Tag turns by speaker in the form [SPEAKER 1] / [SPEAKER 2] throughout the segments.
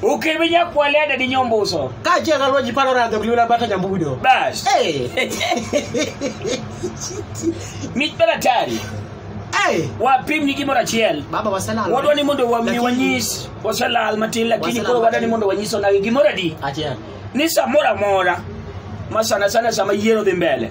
[SPEAKER 1] Ukiminya kualia dadi nyombuso. Kaachiel ka lwenji paro
[SPEAKER 2] radho ok liwla bata nyambudo. Bas.
[SPEAKER 1] Hey. Mit bela tari. Hey. Wapim ni gimoro achiel. Baba waselal. Wadwa ni
[SPEAKER 2] mondo wami
[SPEAKER 1] wanyis waselal matin lakini koro wadwa ni mondo wanyis onagi gimoro adi. Achiel. Ni
[SPEAKER 2] samoro
[SPEAKER 1] amora ma sana sana sama yiero dhi mbele.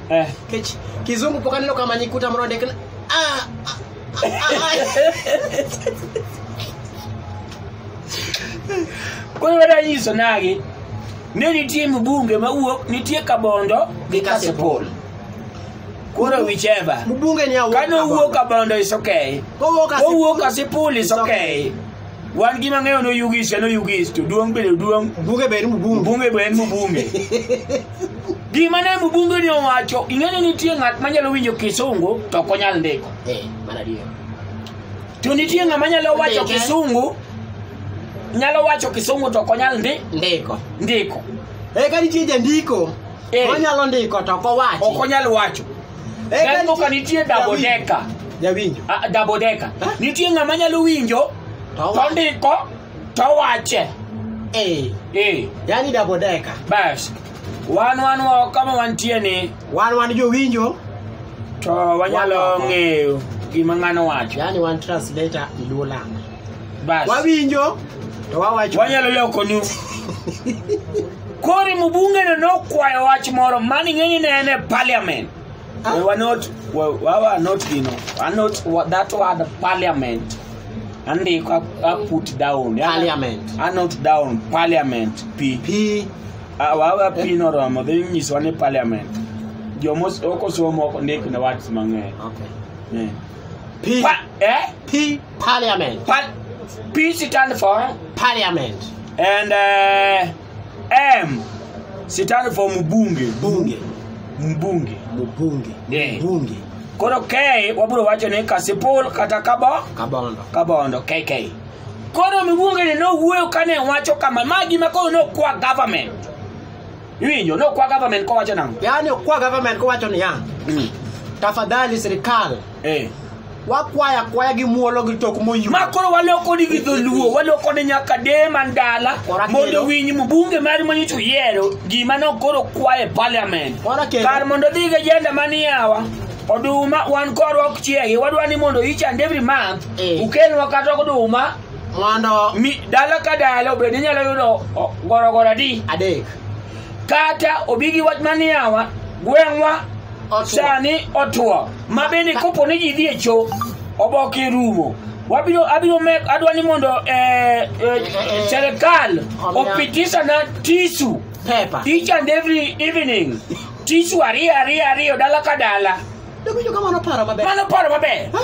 [SPEAKER 2] Eh. Kech, kizungu pok aneno kama nyikuta moro ondik ni, ah, ah, ah, ah.
[SPEAKER 1] Koro wada nyiso nagi ni nitie mbunge mawuok nitie kabondo gi kasipul. Koro whichever. Mbunge ni awuok Kano
[SPEAKER 2] wuok kabondo is
[SPEAKER 1] okay. Kowuok Kowuok kasipul is okay. wan gima ng'eyo no yugis ya no yugis to duong' bende duong' Bunge be en mbunge. mbunge
[SPEAKER 2] be en mbunge
[SPEAKER 1] gima ne mbunge ni owacho ing'e ni nitie ng'at manyalo winjo kisungu to ok onyal ndiko Eh, mano adier.
[SPEAKER 2] to
[SPEAKER 1] nitie ng'ama nyalo wacho Ndike. kisungu nyalo wacho kisungu to ok onyal ndi Ndiko. ndiko Eh, ka
[SPEAKER 2] nitie jandiko Eh. Onyalo ndiko to ok owachi. ok onyal wacho
[SPEAKER 1] Eh, Gari moko nitie double decker. Jawinjo. Ah,
[SPEAKER 2] double decker. Eh?
[SPEAKER 1] nitie ng'ama nyalo winjo To to owachi. ndiko to wache Eh, Eh,
[SPEAKER 2] yani double decker. bas
[SPEAKER 1] wan wan wa- kama wantie ni Wan wan jowinjo,
[SPEAKER 2] to
[SPEAKER 1] wanyalo Wan- ng'eyo gima ng'ano wacho yani wan translator
[SPEAKER 2] Luo land. Bas.
[SPEAKER 1] wawinjo
[SPEAKER 2] to wawacho wanyalo lokonu
[SPEAKER 1] kori mubungeno nokwayo wach moro mani ng'eni ne en e parliament we were not we, we were not you know we are not wa- that word parliament andiko a, a put down yeah? Parliament. a not
[SPEAKER 2] down
[SPEAKER 1] parliament p pi Ah, wawe p noromo dhi nyiswa ni parliament jomos ok osomo ok ndik ne words mang'eny okay. yeah.
[SPEAKER 2] pi Pa- eh? pi Parliament. Pal P
[SPEAKER 1] stand for Parliament.
[SPEAKER 2] and
[SPEAKER 1] uh, M stand for mbunge. Bunge. Mbunge. Mbunge. Yeah. Mbunge. Koro K wabiro wacho ni Kasipul kata Kabo Kabondo. Kabondo KK. Koro mbunge ni nowuoyo kane wacho kama ma gima koro nokwa government. Iwinjo nokwa government kowacho nang'o? Yaani kwa government
[SPEAKER 2] kowacho niya, tafadhali serikal Eh. wakwaya kwaya gi muolo gi tok moyuo ma koro waloko ni gi
[SPEAKER 1] dholuo waloko ni nyaka de man dala Kora mondo kendo. winyi mu bunge mari monyicho yiero gima nokoro kwaye parliament Kora kendo. kar mondo dhi gi agenda maniyawa oduma wan korwa ok chiegi wadwa ni mondo each and every month Eh. ukelnwa kata oduma mondo mi
[SPEAKER 2] dala ka
[SPEAKER 1] dala obed ni inyalo yudo o- gorogoro adi adek
[SPEAKER 2] kata
[SPEAKER 1] obi gi wach maniyawa gweng'wa Otuo. sani otuo ma bende kopo ni ji dhi e cho oboke rumo wabiro abiro me adwa ni mondo eh, eh, serikal opitisha na tisu Pepa. each and
[SPEAKER 2] every
[SPEAKER 1] evening tisu ariyo ariyo ariyo dala ka dala Dogo jo kamano
[SPEAKER 2] paro maber. mano paro maber Ha?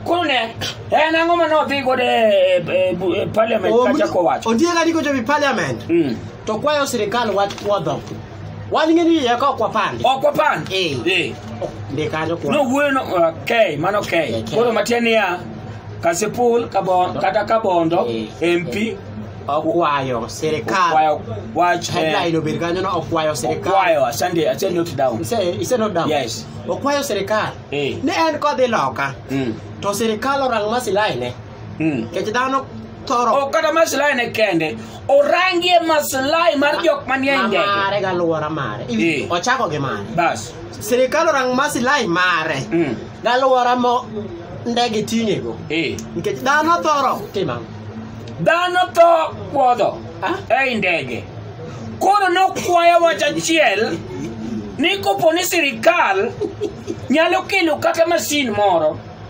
[SPEAKER 2] koro ne
[SPEAKER 1] en ang'o ma nodhi godo e- e- e bu- e parliament kachako wacho Ondiega ni kochopi parliament
[SPEAKER 2] Mm. to kwayo sirikal wach puodho. Wal ng'e ni iye ka ok wapandi. Ok wapandi.
[SPEAKER 1] Eh. Eh.
[SPEAKER 2] Ndi kanyo kuom. No wuoyo no okay,
[SPEAKER 1] mano okay. Okay. Koro matiende niya Kasipul kabon, kata Kabondo Eh. MP Okwayo
[SPEAKER 2] sirikal. kwayo wach eh, Headline
[SPEAKER 1] obed kanyo no
[SPEAKER 2] okwayo sirikal. kwayo asante asante
[SPEAKER 1] note down. Ise ise no down. Yes.
[SPEAKER 2] Okwayo
[SPEAKER 1] sirikal.
[SPEAKER 2] Eh. Ne en kodhi loka. Mm. To sirikal orang masilai ne. Hmm. Kech dhano thoro. Ok kata maslahi ne
[SPEAKER 1] kende. Orangie maslahi mar jok manie ndege. Mare ga luora mare.
[SPEAKER 2] Eh. Ochako gi mare. Bas. Sirikal
[SPEAKER 1] orang
[SPEAKER 2] maslahi mare. Hmm. Ga luora mo ndege tinge go.
[SPEAKER 1] Eh.
[SPEAKER 2] Kech dhano thoro.
[SPEAKER 1] Tima.
[SPEAKER 2] Dhano to kuodho.
[SPEAKER 1] Ah? Ei ndege. Koro nokwayo wach achiel ni kopo ni sirikal nyalo kelo kata masin moro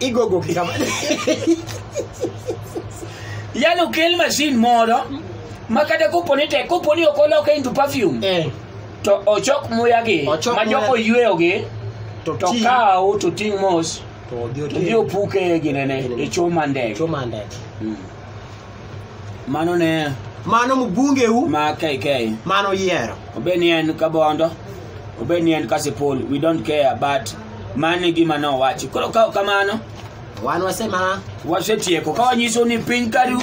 [SPEAKER 2] igogo gi kama
[SPEAKER 1] yani okel mashin moro ma kata kopo ni tek kopo ni ok oloke into perfume eh to ochok muyagi Ochok ma muya. jok oyweyogi to to ti- kawo to ting' mos to odhi to dhi ote opuke e ginene Ginene. e choma ndege choma ndege Mm. mano ne mano mbungeu
[SPEAKER 2] ma kk
[SPEAKER 1] mano yiero
[SPEAKER 2] obed ni en kabondo
[SPEAKER 1] obed ni en kasipul we don't care but mano e gima nowacho koro ka ok kamano wan wasema
[SPEAKER 2] wasetieko ka
[SPEAKER 1] wanyiso ni piny karu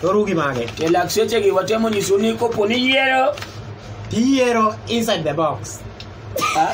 [SPEAKER 1] toru gi mage
[SPEAKER 2] e lak sechegi watemo
[SPEAKER 1] nyiso ni kopo ni yiero
[SPEAKER 2] tiyiero inside the
[SPEAKER 1] box
[SPEAKER 2] ah,